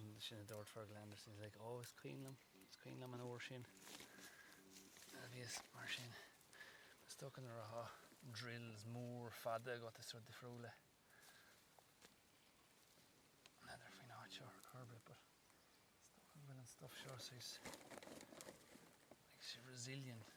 No, sin a dúirt Fergal Anderson, he's like, oh, is cuimhin liom, is cuimhin liom an uair sin a bhíos mar sin. Is dócha nuair atá drills mór fada agat is rud difriúil é. N'fheadar faoin áit seo ar chor ar bith but is dócha go bhfuil an stuff seo saghas, like, resilient.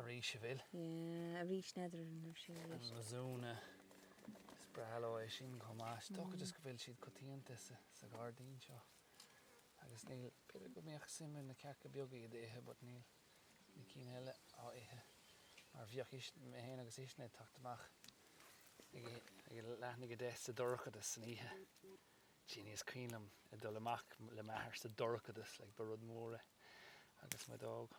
arís, a Bhill. Yeah, arís n'fheadar an raibh sé arís. An mizuna, is breá leo é sin chomh maith. Is dócha just go bhfuil siad coitianta sa ghairdín seo. Agus níl, b'fhéidir go mbeadh suim ag na cearca beaga iad a ithe but níl na cinn eile á ithe mar bheadh mé féin agus Uisne ag teacht amach ag leath i ndiaidh a deich sa dorchadas san oíche. Jeanie, is cuimhin liom, ag dul amach le m'athair sa dorchadas like ba rud mór é agus muid óg.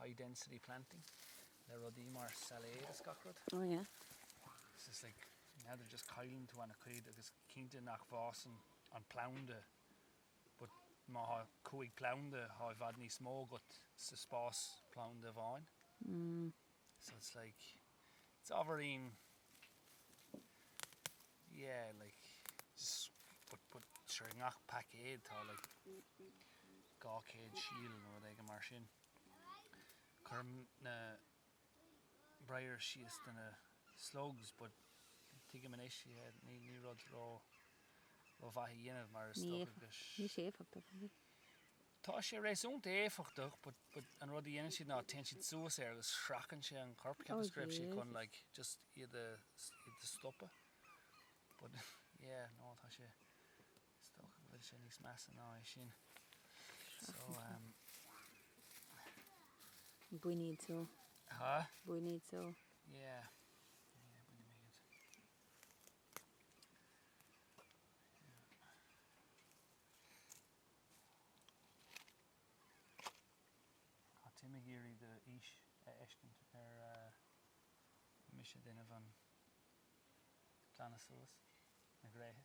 high density planting le rudaí mar sailéad is gach rud. Oh yeah. It's just like, n'fheadar, just cailleann tú ana-chuid agus cinnte nach bhfásann an planda but má thá cúig planda thá i bhfad níos mó agat sa spás planda amháin. Mm. So it's like, it's ábhairín, yeah like, just but, but sure i ngach paicéad tá like, 200 síol nó rud éigin mar sin. Cuirim na briars síos do na slugs but tuigim anois, yeah, ní rud ró-mhaith a dhéanamh mar is dócha go. Níl sé éifeachtach, an é? Tá sé réasúnta éifeachtach but an rud a dhéanann siad ná téann siad suas air agus sracann sé an corp cheapas go raibh sé chun like just iad a stopadh but yeah no tá sé Is dócha go bhfuil sé níos measa ná é sin. Bain iad so. Há? Bain iad so. Yeah. Yeah, bainim iad. Táim ag iarraidh do aois a fheiscint ar mise ag déanamh an glanadh suas na gréithe.